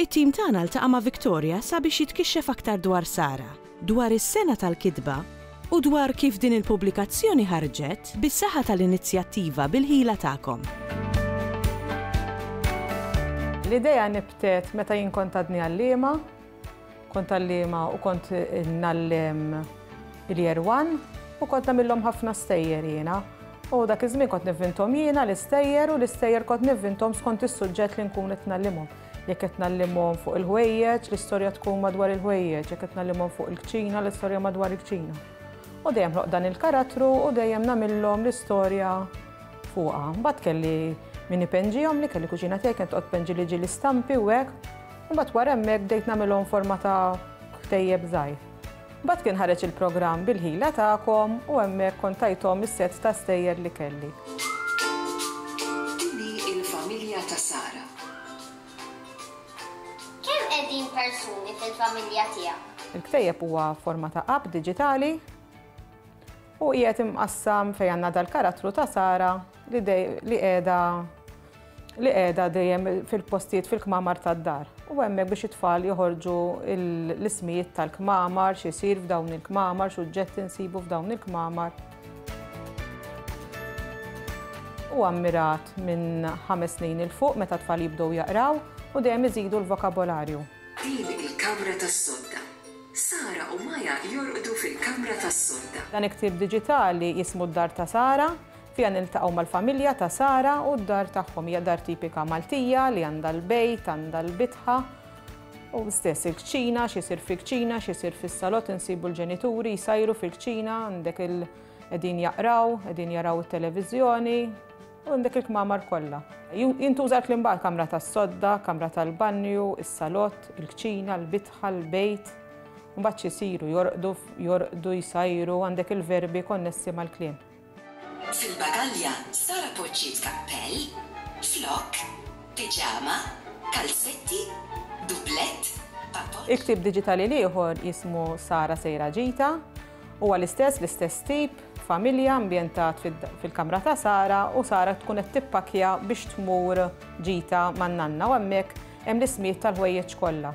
It-tim tagħna ltaqa' ma' Victoria sabiex jitkixxef aktar dwar Sara, dwar is-sengħa tal-kitba, u dwar kif din il-pubblikazzjoni ħarġet bis-saħħa tal-inizjattiva Bil-Ħila Tagħkom. L-idea nibtet meta jien kont għadni għalliema. Kont għalliema u kont ngħallem il-Year One u kont nagħmilhom ħafna stejjer jiena. U dak iż-żmien kont nivvinthom jiena l-istejjer u l-istejjer kont nivvinthom skont is-suġġett li nkun qed ngħallimhom. Jekk qed ngħallimhom fuq il-ħwejjeġ, l-istorja tkun madwar il-ħwejjeġ, jekk qed ngħallimhom fuq il-kċina, l-istorja madwar il-kċina. U dejjem ħloqt dan il-karattru u dejjem nagħmilhom l-istorja fuqha. Mbagħad kelli min ipenġihomli, kelli kuġina tiegħi kienet toqgħod tpenġili ġieli stampi u hekk. Imbagħad wara hemmhekk bdejt nagħmilhom forma ta' ktejjeb żgħir. Imbagħad kien ħareġ il-programm bil-ħila tagħkom u hemmhekk kont tajthom is-sets ta' stejjer li kelli. Din hi l-familja ta' Sara. Kemm qegħdin persuni fil-familja tiegħek? Il-ktejjeb huwa forma ta' app diġitali u qiegħed imqassam fejn għandna dal-karattru ta' Sara li qiegħda li qiegħda dejjem fil-postijiet fil-kmamar tad-dar. U hemmhekk biex it-tfal joħorġu l-ismijiet tal-kmamar, x'isir f'dawn il-kmamar, x'uġġetti nsibu f'dawn il-kmamar. u ammirat minn ħames snin il fuq meta tfal jibdew jaqraw u dejjem iżidu l-vokabolarju. Din il-kamra tas-sodda. Sara u Maya jorqdu fil-kamra tas-sodda. Dan il-ktieb diġitali jismu d-dar ta' Sara. Fiha niltaqgħu mal-familja ta' Sara u d-dar tagħhom. Hija dar tipika Maltija li għandha l-bejt, għandha l-bitħa u stess il-kċina, x'isir fil-kċina, x'isir fis-salott insibu l-ġenituri jsajru fil-kċina, għandek il- qegħdin jaqraw, qegħdin jaraw it-televiżjoni, u għandek il-kmamar kollha. Jintuża l-kliem baqgħa kamra tas-sodda, kamra tal-banju, is-salott, il-kċina, l-bitħa, l-bejt. Mbagħad xisiru jorqdu, jorqdu jsajru, għandek il-verbi konnessi mal-kliem. Fil-bagalja, Sara poġġiet kappell, flokk, piġama, kalzetti, dublett, papot. Il-ktieb diġitali l-ieħor jismu Sara Sejra Ġita. Huwa l-istess, l-istess tip, familja ambjentat fil-kamra ta' Sara u Sara tkun qed tippakkja biex tmur ġita man-nanna u hemmhekk hemm l-ismijiet tal-ħwejjeġ kollha.